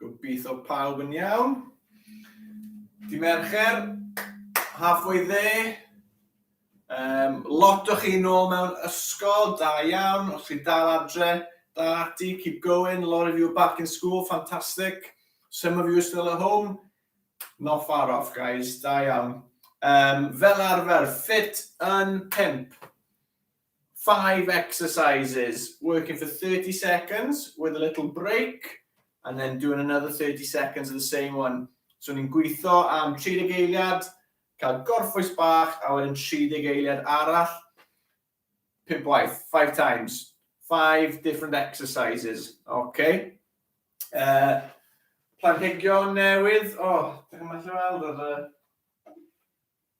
Gobeithio pawb yn iawn. Di Mercher, halfway there. Um, lot o chi nôl mewn ysgol, da iawn, os chi dal adre, dal ati, keep going, a lot of you are back in school, fantastic. Some of you are still at home, not far off guys, da iawn. Um, fel arfer, fit yn pimp. Five exercises, working for 30 seconds with a little break, and then doing another 30 seconds of the same one. So ni'n gweithio am 30 eiliad, cael gorffwys bach, a wedyn 30 eiliad arall, pimp waith, five times, five different exercises, okay? Uh, planhigion newydd, o, oh, dwi'n meddwl weld yr...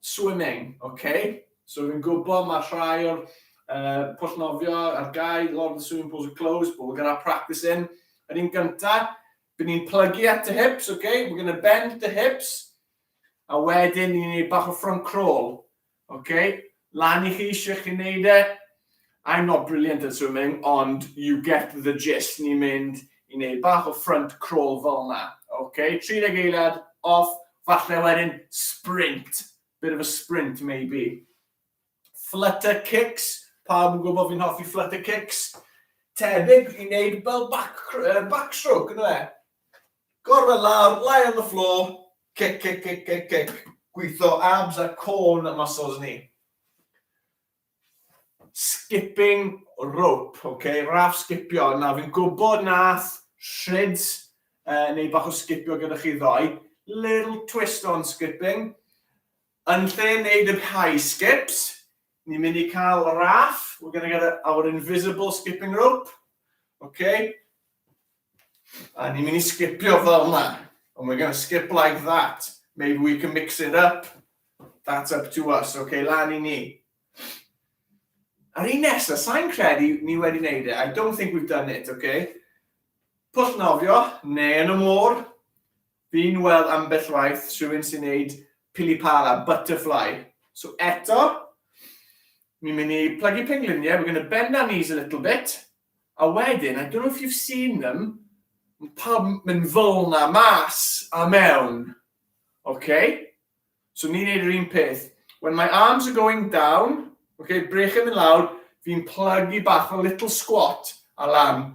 Swimming, ok. So fi'n gwybod mae rhai o'r uh, pwll nofio ar gau, lot of the swimming pools are closed, but we're going to have practice in. Yr un gyntaf, byd ni'n plygu at the hips, ok, we're going to bend the hips, a wedyn ni'n gwneud bach o front crawl, ok, lan i chi eisiau chi wneud e, I'm not brilliant at swimming ond you get the gist, ni'n mynd i wneud bach o front crawl fel yna. Ok, 30 eiliad, off, falle wedyn sprint, bit of a sprint maybe. Flutter kicks, pawb yn gwybod fi'n hoffi flutter kicks, tebyg i wneud fel back, uh, backstroke, yna e. Gorfod lawr, lie on the floor, kick, kick, kick, kick, kick, gweithio abs a corn muscles ni. skipping rope ok raff sgipio na fi'n gwybod nath Shrids uh, neu bach o sgipio gyda chi ddoe little twist on skipping yn lle wneud yr high skips ni'n mynd i cael raff we're gonna get our invisible skipping rope ok A ni'n mynd i sgipio fel yna. And we're going to skip like that. Maybe we can mix it up. That's up to us. OK, lan i ni. A'r un nesaf, sa'n credu ni wedi wneud e. I don't think we've done it, OK? Pwll nofio, neu yn y môr. Fi'n weld ambell waith rhywun sy'n neud pili pala, butterfly. So eto, Ni'n mynd i plygu pengliniau, we're gonna bend our knees a little bit, a wedyn, I don't know if you've seen them, mae pawb yn mynd fel na mas a mewn. Okay? So ni'n neud yr un peth. When my arms are going down, okay, brechyn yn lawr, fi'n plygu bach o little squat a lan.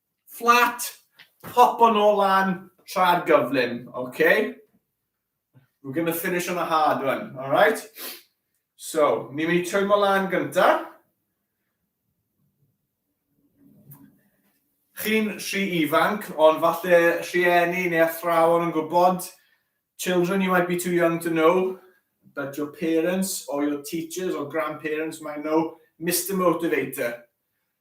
Fflat, popo nôl lan tra'r gyflym, oce? We're going to finish on a hard one, alright? So, ni'n mynd i twymo lan gynta. Chi'n rhy ifanc, ond falle rhieni neu athrawon yn gwybod, children you might be too young to know, but your parents or your teachers or grandparents might know, Mr Motivator.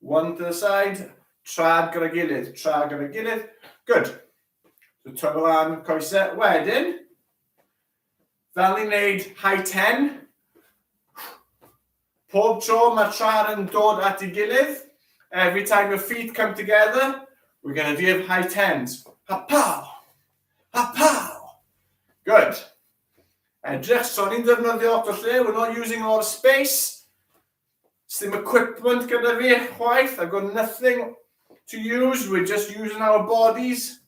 One to the side, trad gyda gilydd, trad gyda gilydd. Good. So twyfo lan coesau. Wedyn, fel ni'n neud high ten, pob tro mae'r trad yn dod at ei gilydd, every time your feet come together, we're going to give high tens. Ha-pow! Ha-pow! Good. Edrych, so ni'n ddefnyddio lot o lle, we're not using a lot of space. Sdim equipment gyda fi chwaith, I've got nothing to use, we're just using our bodies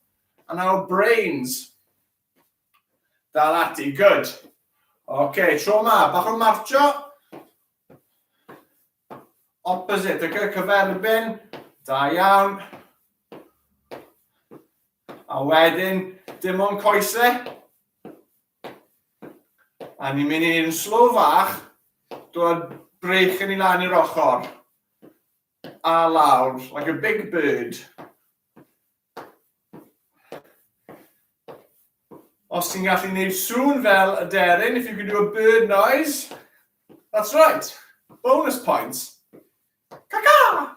and our brains. Dal ati, good. OK, tro ma, bach o marcho. Opposite, OK, cyferbyn. Da iawn. A wedyn, dim ond coesau. A ni'n mynd i'n slo fach, dod breich yn i lan i'r ochr. A lawr, like a big bird. Os ti'n gallu gwneud sŵn fel y deryn, if you can do a bird noise, that's right, bonus points. Caca!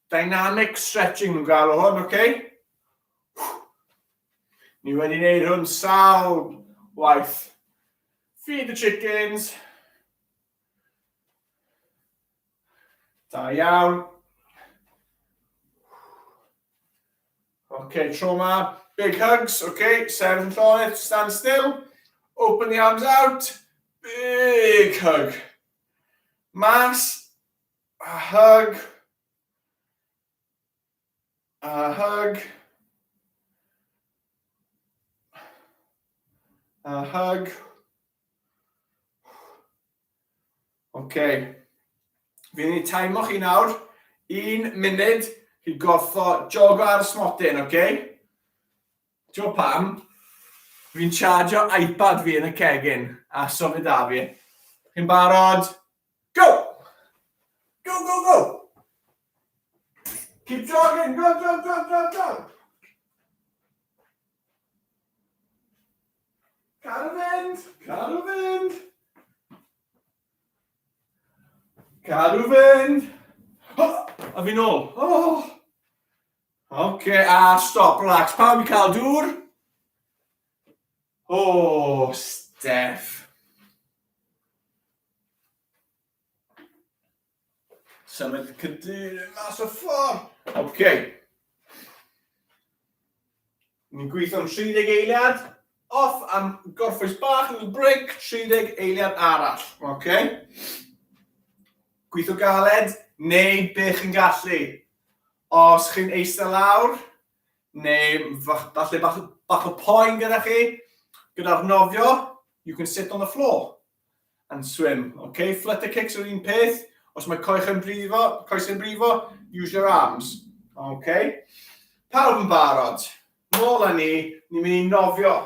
Dynamic stretching nhw'n galw hwn, oce? Okay? Ni wedi gwneud hwn sawl waith. Feed the chickens. Da iawn. Oce, okay, tro ma. Big hugs, oce. Okay. Sefyll yn llonydd, stand still. Open the arms out. Big hug. Mas. A hug. A hug. A hug. OK. Fi'n ei taimo chi nawr. Un munud i gorffo jogo ar y smotyn, OK? Ti'n pam? Fi'n chargio iPad fi yn y cegin a symud da fi. Chi'n barod? Go! Go, go, go! Keep jogging, go, go, go, go, go! Car o fynd! Car o fynd! Car o fynd! Oh, a fi'n ôl! Oh! Oce, okay, a stop, relax. Pawb i cael dŵr? Oh, Steph. Symud y cadeirydd mas o ffordd. OK. Ni'n gweithio'n 30 eiliad. Off am gorffwys bach, little break, 30 eiliad arall. OK. Gweithio galed, neu be chi'n gallu. Os chi'n eistedd lawr, neu falle bach, bach o poen gyda chi, gyda'r nofio, you can sit on the floor and swim. Okay? Flutter kicks yw'r un peth. Os mae coech yn brifo, coes yn brifo, use your arms. Okay? Pawb yn barod. Nôl â ni, ni'n mynd i nofio.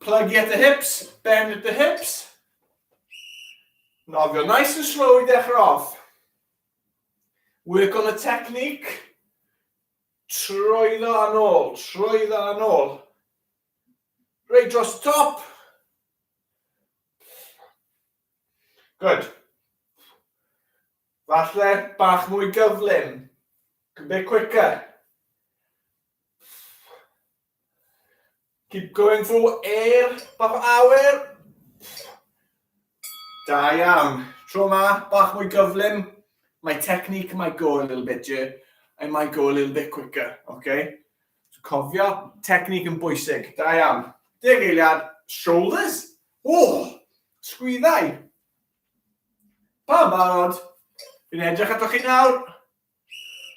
Plug at the hips, bend at the hips. Nofio nice and slow i ddechrau off. Work on the technique. Trwyddo yn ôl, trwyddo yn ôl. Reit dros top. Good. Falle bach mwy gyflym. A bit quicker. Keep going through air, bach o awyr. Da iawn. Tro ma, bach mwy gyflym. My technique might go a little bit, yeah. I might go a little bit quicker, okay? So cofio, technique yn bwysig. Da iawn. Deg eiliad, shoulders. Ohh! Sgwyddau! Pam barod? Fi'n edrych atoch chi nawr.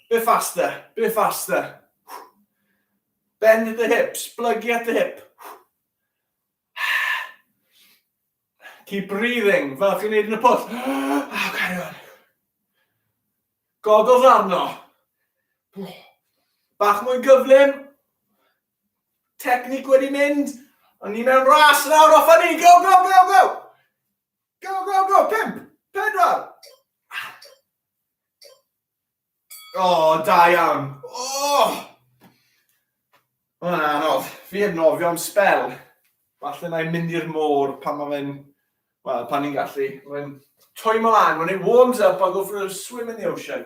Bit faster, bit faster. Bend at the hips, plygu at the hip. Keep breathing, fel chi'n neud yn y pwll. Oh, carry on. Goggles arno. Bach mwy gyflym. Technique wedi mynd. Ond ni mewn ras nawr, off ni, go, go, go, go! Go, go, go, pimp, pedwar! O, oh, da iawn. O! Oh! Mae'n anodd. Fi yn nofio am spel. Falle na i'n mynd i'r môr pan mae fe'n... Wel, pan ni'n gallu. Mae'n twymo lan, when it warms up, I'll go for a swim in the ocean.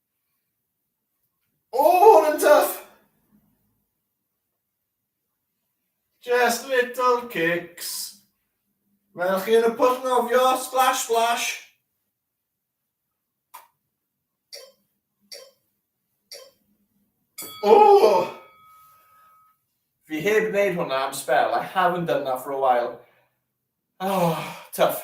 O, hwn yn tuff! Just little kicks. Mae'n chi yn y pwll nofio, splash, splash. O! Fi heb wneud hwnna am spel. I haven't done that for a while. Oh, tough.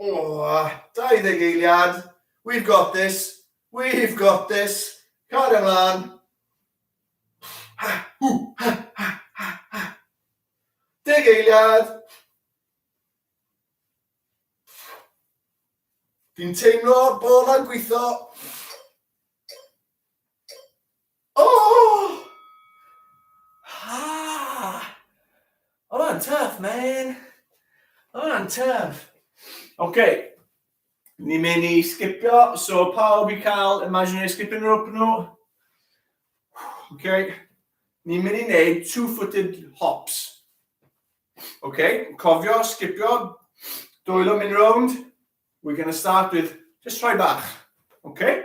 Aww, 20 eiliad, we've got this, we've got this, cario mlaen. Ha, hw, ha, ha, ha, ha. Deg eiliad. Fi'n teimlo bod yn gweithio. Oh! Ah! Oedd hwnna'n tuff, man. Oedd hwnna'n tuff. OK. Ni'n mynd i sgipio, so pawb i cael imaginary skipping rope nhw. OK. Ni'n mynd i wneud two-footed hops. OK, cofio, sgipio, dwylo mynd rownd. We're going to start with just rhoi bach. OK?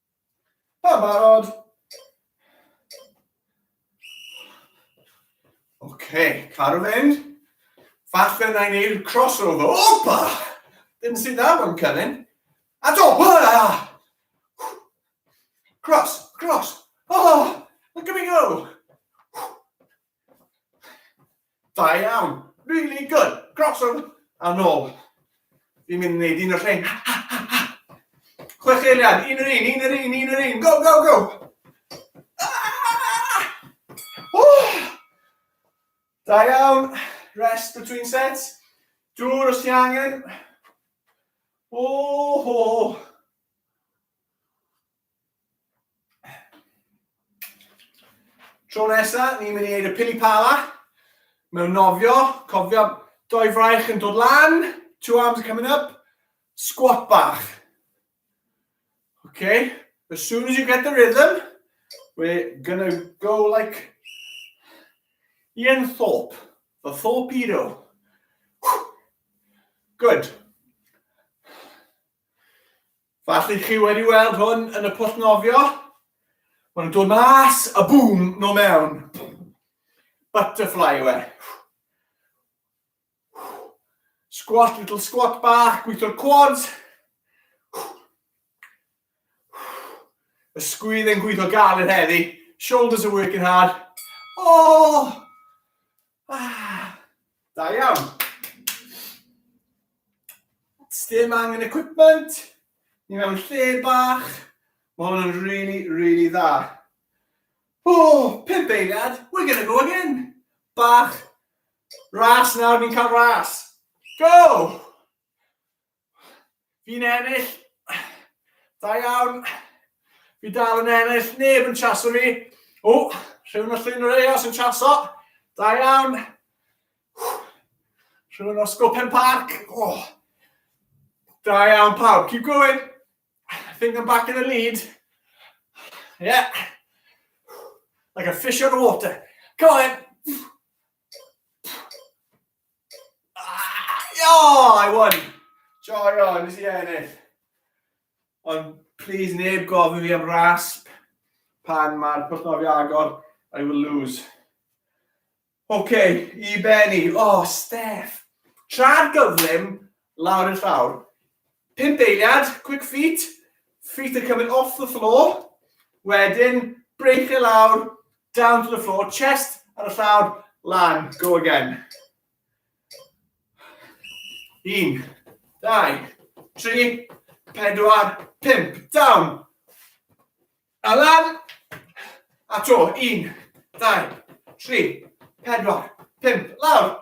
Mae'n barod. Oce, car yn mynd. Falle na i wneud crossover. Opa! Ddim sy'n dda mewn cynnig. A do, bwla! Cross, cross. Oh, look at me go! Da iawn. Really good. Croeso a nôl. Fi'n mynd i wneud un o'r rhain. Chwech eiliad, un yr un, un yr un, un yr un. Go, go, go. Ah! Oh! Da iawn. Rest between sets. Dŵr os ti angen. Oh, oh. Tro nesa, ni'n mynd i wneud y pili pala. Mewn nofio, cofio, doi fraich yn dod lan, two arms are coming up, squat bach. Okay, as soon as you get the rhythm, we're gonna go like Ian Thorpe, the Thorpedo. Good. Falle chi wedi weld hwn yn y pwll nofio. Mae'n dod mas a bŵm no mewn. Butterfly yw e. Squat, little squat bach, gweithio'r quads. Ysgwydd yn gweithio galed heddi. Shoulders are working hard. Oh! Ah, da iawn. Sdim angen equipment, ni mewn lle bach, mae hwn yn really, really dda. O, oh, pimp eiliad, we're gonna go again. Bach, ras nawr, ni'n cael ras. Go! Fi'n ennill. Da iawn. Fi dal yn ennill. Neb yn chaso fi. O, rhywun o llun yr eos yn chaso. Da iawn. Rhywun o Scopen Park. O. Da iawn pawb. Keep going. I think I'm back in the lead. Yeah. Like a fish out of water. Come on then. Oh, I won! Joio, nes i ennill. Ond, please, neb gofyn fi am rasp pan mae'r pwllnofi agor. I will lose. OK, i Benny. Oh, Steph. Tra'r gyflym, Lawr i'r llawr. Pump eiliad, quick feet, feet are coming off the floor. Wedyn, break e lawr, down to the floor, chest ar y llawr, lan, go again. Un, dau, tri, pedwar, pump, down. A lan, a to, un, dau, tri, pedwar, pump, lawr.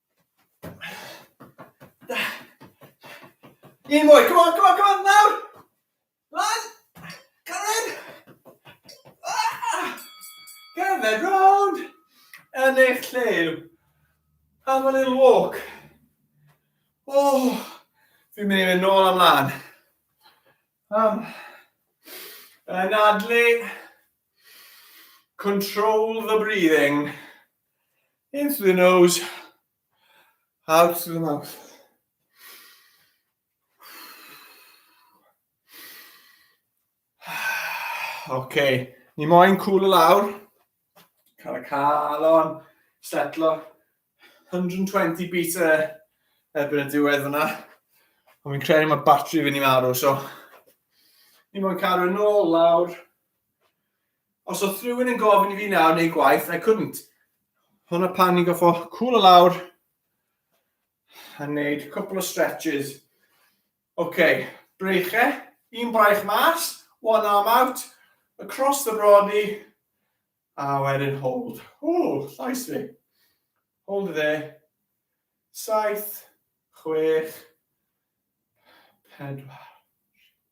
Un mwy, come on, come on, come on, nawr! Lan! Cyrraedd! Ah! Cerdded rownd! Yn eich lle. Have a little walk. Oh, fi'n mynd i fynd nôl am lan. Um, yn adlu, control the breathing. In through the nose, out through the mouth. OK, ni moyn cwl y lawr. Cael y calon, setlo. 120 beats e, erbyn y diwedd fyna. Ond fi'n credu mae batri fi'n i marw, so... Ni moyn cadw yn ôl lawr. Os oedd rhywun yn gofyn i fi nawr neu gwaith, I couldn't. Hwna pan ni'n goffo cwl o lawr a wneud cwpl o stretches. Oce, okay. breiche, un braich mas, one arm out, across the body, a wedyn hold. O, llais fi. Hold dde. Saith, chwech, pedwar.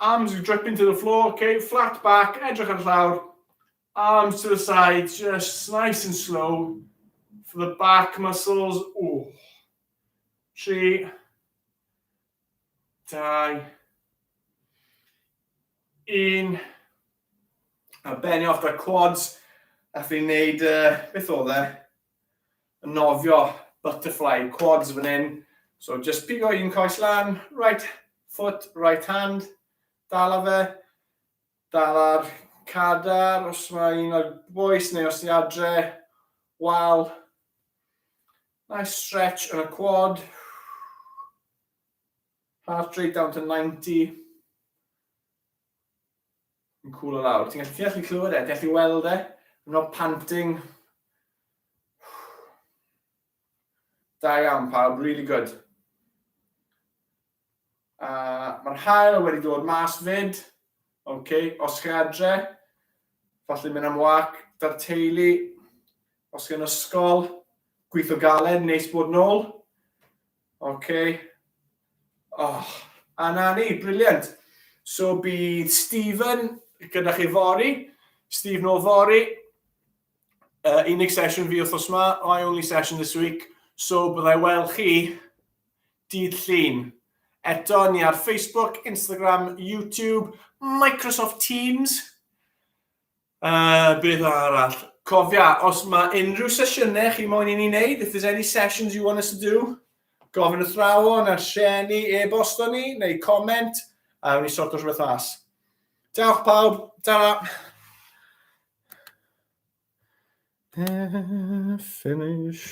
Arms with dripping to the floor, ok, flat back, edrych ar y llawr, arms to the side, just nice and slow, for the back muscles, oh, tri, dau, un, a benni off da quads, a fi'n neud, uh, beth oedd e? yn nofio butterfly quads fan hyn. So just pigo un coes lan, right foot, right hand, dal a fe, dal ar cadar, os mae un o'r boes neu os ni adre, wal. Nice stretch yn y quad. Heart rate down to 90. Yn cwl o lawr. Ti'n gallu clywed e? Ti'n gallu weld e? I'm not panting. Da iawn pawb, really good. Uh, Mae'r hael wedi dod mas fyd. OK, os chi adre, falle mynd am wac da'r teulu. Os chi'n ysgol, gweithio galed, neis bod nôl. Oce. Oh, a na ni, briliant. So bydd Stephen gyda chi fori, Stephen o fori, uh, unig sesiwn fi wrthos yma, my only session this week, so byddai weld chi dydd llun. Eto ni ar Facebook, Instagram, YouTube, Microsoft Teams. Uh, beth arall? Cofia, os mae unrhyw sesiynau chi moyn i ni wneud, if there's any sessions you want us to do, gofyn athrawon ar sieni, e-bosto ni, neu comment, a wni sorto rhywbeth mas. Diolch pawb, ta-ra! Finish.